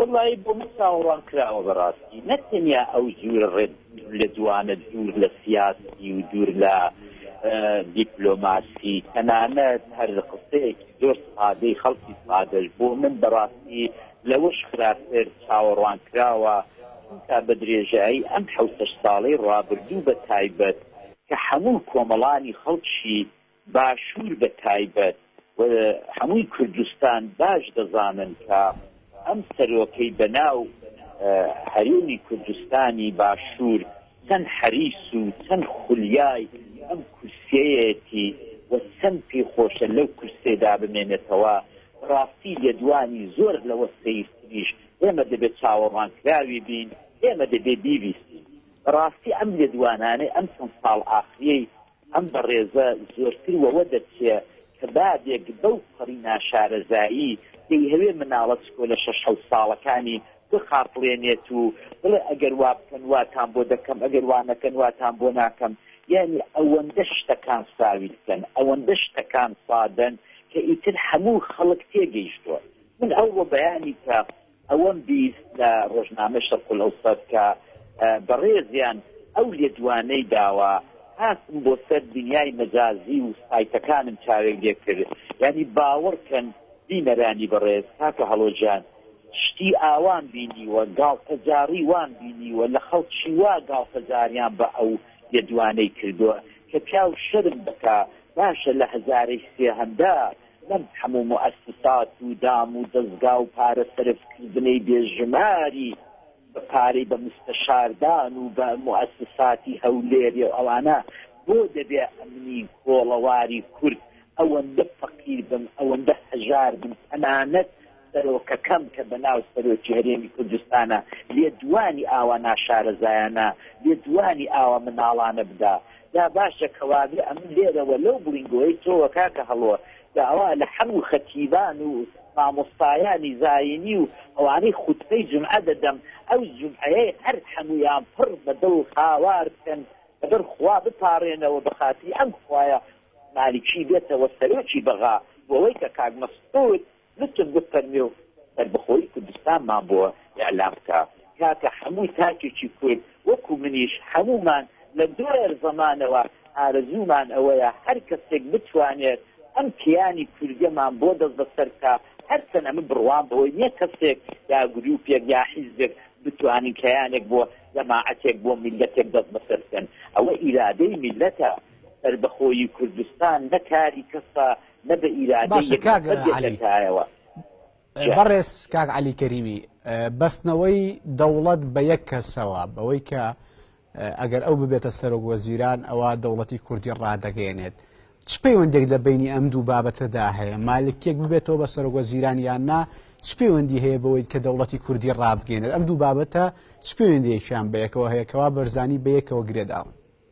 وەڵایی بۆ من چاوەڕوان کراوە بەڕاستی نەک تەنیا ئەو جوورە ڕێ لە دوانە دوور لە سیاسی و دوور لە دیپلۆماسی تەنانەت هەر قسەیەکی زۆر سادەی خەڵکی سادەش بۆ من بەڕاستی لەوەش خراپتر چاوەڕوان کراوە چونکە بە درێژایی ئەم حەوتەش ساڵەی ڕابردوو بە تایبەت کە هەموو کۆمەڵانی خەڵکی باشوور بە تایبەت و هەمووی کوردستان باش دەزانن کە ئەم سەرۆکەی بە ناو هەرێمی کوردستانی باشوور چەند حەریس و چەند خولیای ئەم کورسیەیەتی و چەند پێی خۆشە لەو کورسێدا بمێنێتەوە، بە ڕاستی لێدوانی زۆر لەوە سەیرتریش ئێمە دەبێ چاوەڕوانکراوی بین، ئێمە دەبێ بیبیستین بە ڕاستی ئەم لێدوانانەی ئەم چەند ساڵ ئاخریەی ئەم بەڕێزە زۆرتر وەوە دەچێ کە بابێک بەو پەڕی ناشارەزایی دەیهەوێ مناڵە چکۆلە شەش حەوت ساڵەکانی بخاپڵێنێت و بڵێ ئەگەر وا بکەن واتان بۆ دەکەم ئەگەر وا نەکەن واتان بۆ ناکەم یانی ئەوەندە شتەکان ساویلکەن ئەوەندە شتەکان سادەن کە ئیتر هەموو خەڵک تێگەیشتووە من ئەوڕۆ بەیانی کە ئەوەم بیست لە ڕۆژنامەی شەرق الاوسەت کە بەڕێزیان ئەو لێدوانەی داوە هاتم بۆ سەر دنیای مەجازی و سایتەکانم چاوێک لێ کرد یانی باوەڕ کەن بینەرانی بەڕێز کاکە هەڵۆ جان شتی ئاوام بینیوە گاڵتەجاڕی وام بینیوە لە خەڵکی وا گاڵتەجاریان بە ئەو لێدوانەی کردوە کە پیاو شەرم بکا باشە لە هەزارەی سێهەمدا نەک هەموو موئەسسات و دام و دەزگا و پارە سەرف کردنەی بێ ژماری بە پارەی بە موستەشاردان و بە موئەسساتی هەولێریە و ئەوانە بۆ دەبێ ئەمنی کۆڵەواری کورد ئەوەندە فەقیر بن ئەوەندە هەژار بن تەنانەت سەرۆکەکەم کە بەناو سەرۆکی هەرێمی کوردستانە لێدوانی ئاوا ناشارەزایانە، لێدوانی ئاوا مناڵانە بدا؟ جا باشە کەوابێ ئەمن لێرەوە لەو بڵینگۆی تۆوە کاکە هەڵۆ داوا لە حەموو خەتیبان و مامۆستایانی زایینی و ئەوانەی خوتبەی جومعە دەدەم ئەو جومعەیەی هەر حەموویان پڕ بە دڵ هاوار بکەن لەبەر خوا بپاڕێنەوە بە خاتری ئەم خوایە مالکی بێتەوە سەرۆکی بەغا بۆوەی کە کاک مەسعود لوتف بفەرموێ و سەربەخۆیی کوردستانمان بۆ ئیعلام بکە کاکە حەموو تاکێکی کورد وەکو منیش حەموومان لە دوێر زەمانەوە ئارەزوومان ئەوەیە هەر کەسێک بتوانێت ئەم کیانی کوردەمان بۆ دەست بەسەر بکا هەرچەنە من بڕوام بەوەی نیە کەسێک یا گروپێک یا حیزبێک بتوانن کیانێک بۆ جەماعەتێک بۆ میللەتێک دەست بەسەر بکەن ئەوە ئیرادەی میللەتە سەربەخۆیی کوردستان نە کاری کەسە نە بە ئیرادەی باشە یەک کاک نەفەر دێتە عەلی کایەوە جا بەڕێز کاک عەلی کەریمی ئە، بەستنەوەی دەوڵەت بە یەک کەسەوە بەوەی کە ئە، ئەگەر ئەو ببێتە سەرۆک وەزیران ئەوا دەوڵەتی کوردی ڕادەگەیەنێت چ پەیوەندێک لە بەینی ئەم دوو بابەتەدا هەیە مالکیەک ببێتەوە بە سەرۆک وەزیران یان نا چ پەیوەندی هەیە بەوەی کە دەوڵەتی کوردی ڕابگەێنێت ئەم دوو بابەتە چ پەیوەندیەکیان بە یەکەوە هەیە کەوا بەرزانی بە یەکەوە گرێداون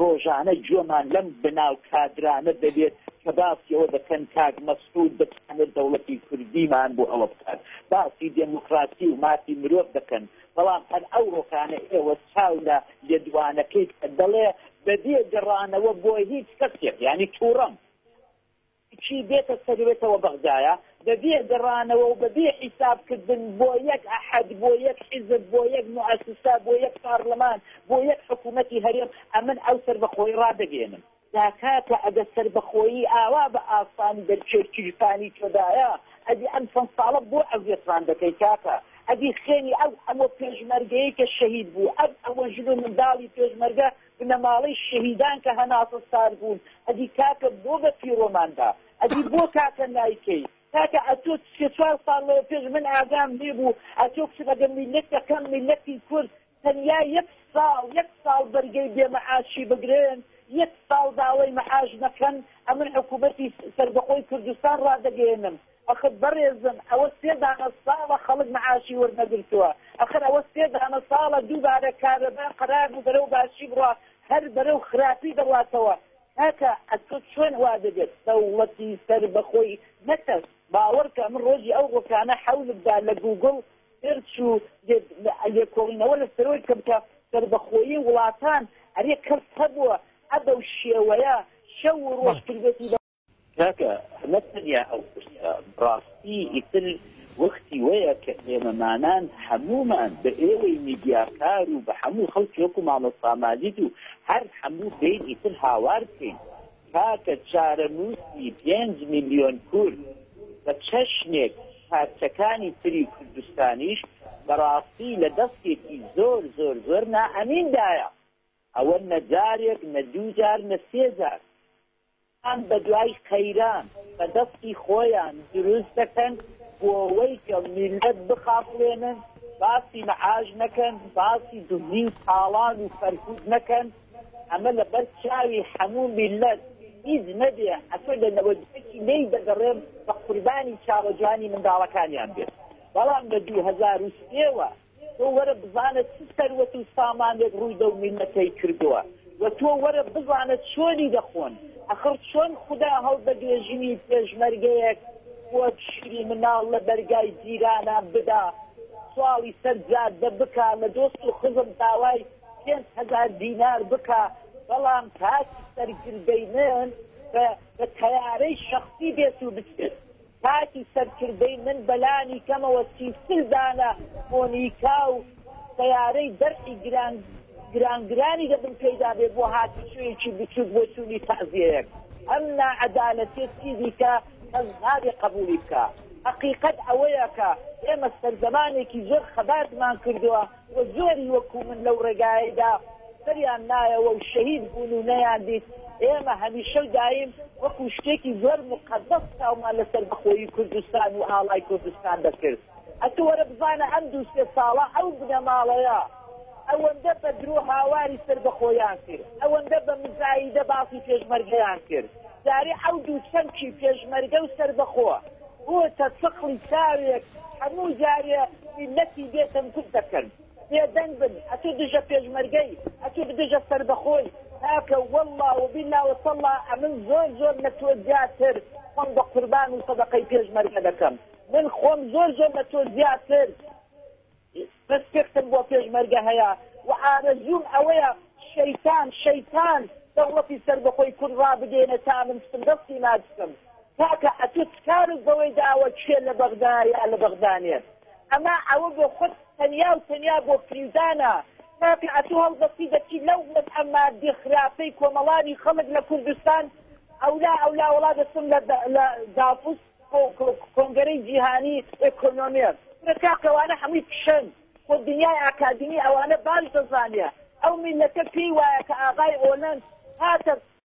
ڕۆژانە گوێمان لەم بناو کادرانە دەبێت کە باسی ئەوە دەکەن کاک مەسعود دەتوانێت دەوڵەتی کوردیمان بۆ ئەوە بکات، باسی دێمۆکڕاسی و مافی مرۆڤ دەکەن، بەڵام هەر ئەوڕۆکانە ئێوە چاو لە لێدوانەکەی بکە دەڵێ بەبێ گەڕانەوە بۆ هیچ کەسێک یانی توڕەم. کچی دێتە سەروێتەوە بەغدایە بەبێ گەڕانەوە و بەبێ حیساب کردن بۆ یەک ئەحەد بۆ یەک حیزب بۆ یەک موئەسسە بۆ یەک پارلمان بۆ یەک حکوومەتی هەرێم ئەمن ئەو سەربەخۆی ڕادەگەیەنم. جا کاکە ئەگە سەربەخۆیی ئاوا بە ئاسانی دەرکێش گیرفانی تۆدایە ئەدی ئەم چەند ساڵە بۆ ئەزیەتمان دەکەی کاکە ئەدی خوێنی ئەو هەموو پێشمەرگەیەی کە شەهید بوو ئەم هەموو ژن و منداڵی پێشمەرگە بنەماڵەی شەهیدان کە هەناسە سار بوون ئەدی کاکە بۆ بە پیرۆمان دا ئەدی بۆ کاکە نایکەی کاکە ئەتۆ سێ چوار ساڵ لەوە پێش من ئاگام لێ بوو ئەتۆ بچم ئەگەر میلەت دەکەم میلەتی کورد تەنیا یەک ساڵ یەک ساڵ بەرگەی بێ مەعاشی بگرن یەک ساڵ داوای مەعاش نەکەن ئەمن حکومەتی سەربەخۆی کوردستان ڕادەگەیەنم ئەخر بەڕێزم ئەوە سێ دانە ساڵە خەڵک معاشی وەرنەگرتوە ئەخر ئەوە سێ دانە ساڵە دووبارە کارەبا قەرار بوو بەرەو باشی بڕا هەر بەرەو خراپی دەڕاتەوە کاکە ئەتۆ چۆن وا دەبێت دەوڵەتی سەر بەخۆی نە کەس باوەڕکە من ڕۆژی ئەو ڕۆکانە حەولم دا لە گووگڵ سێرچ و لێکۆڵینەوە لە سەرۆی بکەم کە سەربەخۆیی وڵاتان ئەرێ کەس هەبووە ئە بەو شێوەیە شەو و ڕۆژ کردێتی کاکە نەک تەنیا ئەو پرسە بڕاستی ئیتر وەختی وەیە کە ئێمەمانان هەموومان بە ئێوەی میدیاکار و بە هەموو خەڵکی وەکو مامۆستا ماجید و هەر هەموو بێین ئیتر هاوار بکەین کاکە چارەنووسی پێنج ملیۆن کورد بە چەشنێک پارچەکانی تری کوردستانیش بەڕاستی لە دەستێکی زۆر زۆر زۆر نائەمین دایە ئەوە نە جارێک نە دوو جار نە سێ جار ئەوان بە دوای قەیران بە دەستی خۆیان دروست دەکەن بۆوەی کە میللەت بخافڵێنن باسی معاش نەکەن باسی دزی و تاڵان و کەرکوک نەکەن ئەمە لە بەر چاوی حەموو میللەت هیچ نەبێ ئەتۆ لە نەوەد و یەکی لێی دەگەڕێم بە قوربانی چاوە جوانی منداڵەکانیان بێت بەڵام لە دوو هەزار و سێ وە تۆ وەرە بزانە چ سەروەت و سامانێک ڕووی دەو میللەتەی کردووە و تۆ وەرە بزانە چۆنی دەخۆن، ئەخڕ چۆن خودا هەڵدەگرێ ژنی پێشمەرگەیەک وەک شیری مناڵ لە دەرگای جیرانان بدا سواڵی سەر جادە بکا لە دۆست و خزم داوای پێنج هەزار دینار بکا بەڵام کاتی سەرگردەی من بە تەیارەی شەخسی بێت و بچێت. کاتی سەرکردەی من بەلانی کەمەوە سی و چل دانە مۆنیکا و سەیارەی دەرعی گران گران گرانی دەبم پێیدا بێ بۆ هاتوچۆیەکی بچوک بۆ چونی تەعزیەیەک ئەم ناعەدالەتیە چیدیکە کەس نابێ قەبولی بکا هەقیقەت ئەوەیە کە ئێمە سەردەمانێکی زۆر خەباتمان کردوە و زۆری وەکو من لەو ڕێگایەیدا سەریان نایەوە و شەهید بوون و نەیان دیت، ئێمە هەمیشە و دایم وەکو شتێکی زۆر موقەدەس چاومان لە سەربەخۆیی کوردستان و ئاڵای کوردستان دەکرد. ئەتو وەرە بزانە ئەم دوو سێ ساڵە ئەو بنەماڵەیە ئەوەندە بە درۆ هاواری سەربەخۆییان کرد، ئەوەندە بە مزایدە باسی پێشمەرگەیان کرد، جارێ ئەو دوو چەمکی پێشمەرگە و سەربەخۆ بۆتە چەقڵی چاوێک هەموو جارێ میلەتی بێ تەنکوت دەکەن بێ دەنگ بن ئەتو دژە پێشمەرگەی ئەتو دژە سەربەخۆی کاکە واللە وبیلا وتەڵا ئەمن زۆر زۆر لە تۆ زیاتر خۆم بە قوربان و سەدەقەی پێشمەرگە دەکەم من خۆم زۆر زۆر لە تۆ زیاتر ڕێسپێکتم بۆ پێشمەرگە هەیە و ئارەزووم ئەوەیە شەیتان شەیتان دەوڵەتی سەربەخۆی کورد ڕابگەیەنێ تا من ستم دەستی ناگسم کاکە ئەتوو چ کارت بەوەی داوە کێ لە بەغدا یا لە بەغدا نێت ئەمە ئەوە بۆ خۆت تەنیا و تەنیا بۆ فریودانە کاکە ئەتوو هەڵدەستی دەچی لەو وەزعە مادی خراپەی کۆمەڵانی خەڵک لە کوردستان ئەولا ئەولا وەڵا دەچم لە داپوست کۆنگەرەی جیهانی ئێکۆنۆمێست کورە کاکە ئەوانە هەمووی فشەن خۆ دنیای ئاکادمی ئەوانە باش دەزانێ ئەو میلەتە پێی وایە کە ئاغای ئۆلەند هاتە